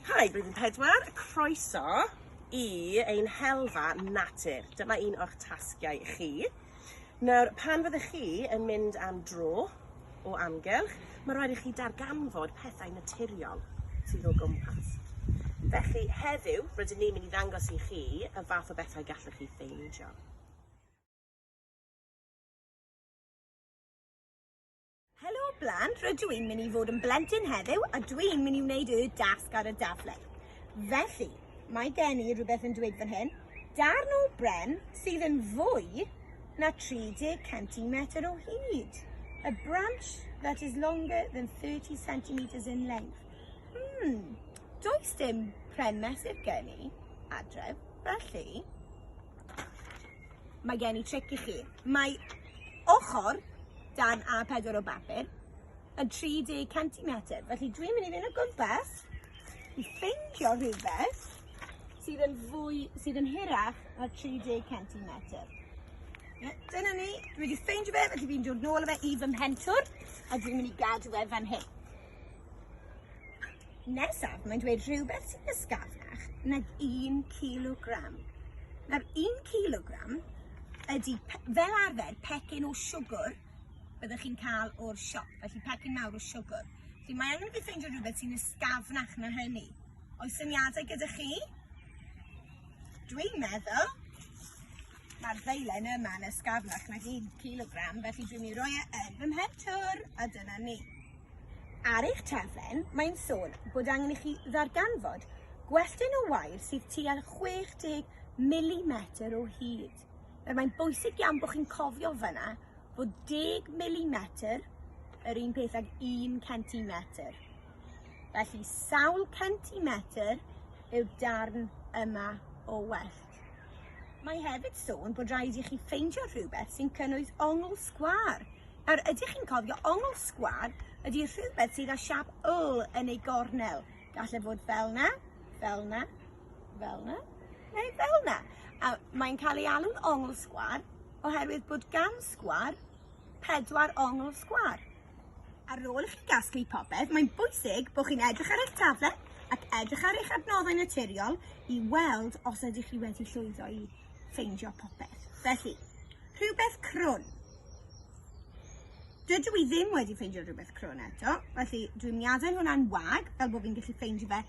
Hi, Blwyddyn Pedwar, croeso i ein helfa natur. Dyma un o'ch tasgiau i chi. Nawr, pan fyddech chi yn mynd am dro o amgylch, mae rhaid i chi darganfod pethau naturiol sydd o gwmpas. Felly, heddiw, rydyn ni'n mynd i ddangos i chi y fath o bethau gallwch chi ffeindio. Helo blant, rydw i'n mynd i fod yn blentyn heddiw a dwi'n mynd i wneud y dasg ar y daflen. Felly, mae gen i rhywbeth yn dweud fan hyn, darn o bren sydd yn fwy na 30 centimetr o hyd. A branch that is longer than 30 centimeters in length. Hmm, does dim pren mesur gen i adref, felly Mae gen i tric i chi. Mae ochr dan A4 o bapur yn 30 cm. Felly dwi'n mynd i fynd o gwmpas i ffeindio rhywbeth sydd yn fwy, sydd yn hirach na 30 cm. Ie, Dyna ni, dwi wedi ffeindio fe, felly fi'n dod nôl â fe i fy mhentwr, a dwi'n mynd i gadw fe fan hyn. Nesaf, mae'n dweud rhywbeth sy'n ysgafach nag un kilogram. Nawr, un kilogram ydy fel arfer pecyn o siwgr byddwch chi'n cael o'r siop, felly pecyn mawr o siwgr. Felly mae angen i chi ffeindio rhywbeth sy'n ysgafnach na hynny. Oes syniadau gyda chi? Dwi'n meddwl Mae'r ddeilen yma yn ysgafnach nag un cilogram, felly dwi'n ei roi e yn fy mhentwr, a dyna ni. Ar eich taflen, mae'n sôn bod angen i chi ddarganfod gwelltyn o wair sydd tua 60 mm o hyd. Nawr mae'n bwysig iawn bod chi'n cofio fyna bod 10 mm yr un peth ag 1 centimetr. Felly sawl centimetr yw'r darn yma o well. Mae hefyd sôn bod rhaid i chi ffeindio rhywbeth sy'n cynnwys ongl sgwâr. Nawr, ydych chi'n cofio ongl sgwâr ydy rhywbeth sydd â siap yl yn ei gornel. Gall e fod fel na, fel na, fel na, neu fel na. A mae'n cael ei alw'n ongl sgwâr oherwydd bod gan sgwâr pedwar ongl sgwâr. Ar ôl i chi gasglu popeth, mae'n bwysig bod chi'n edrych ar eich taflen ac edrych ar eich adnoddau naturiol i weld os ydych chi wedi llwyddo i ffeindio popeth. Felly, rhywbeth crwn. Dydw i ddim wedi ffeindio rhywbeth crwn eto, felly dwi'n miadau hwnna'n wag, fel bod fi'n gallu ffeindio fe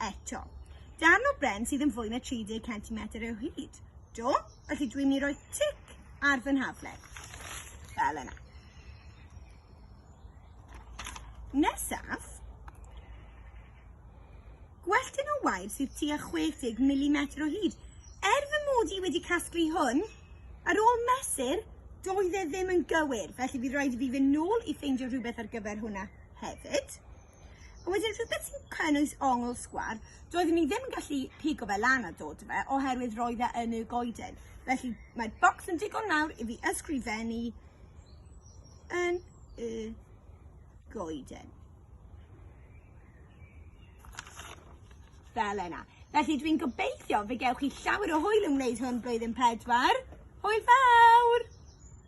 eto. Darn o bren sydd yn fwy na 30 cm o hyd. Do? Felly dwi'n mynd i roi tic ar fy nhaflen. Fel yna. Nesaf, gwelltyn o wair sydd tua 60 mm o hyd. Er fy mod i wedi casglu hwn, ar ôl mesur, doedd e ddim yn gywir, felly bydd rhaid i fi fynd nôl i ffeindio rhywbeth ar gyfer hwnna hefyd. A wedyn rhywbeth sy'n cynnwys ongl sgwar, doeddwn i ddim yn gallu pigo fe lan a dod â fe oherwydd roedd e yn y goeden. Felly mae'r bocs yn digon mawr i fi ysgrifennu yn y goeden. Fel yna. Felly dwi'n gobeithio fe gewch chi llawer o hwyl yn wneud hwn blwyddyn pedwar. Hwyl fawr!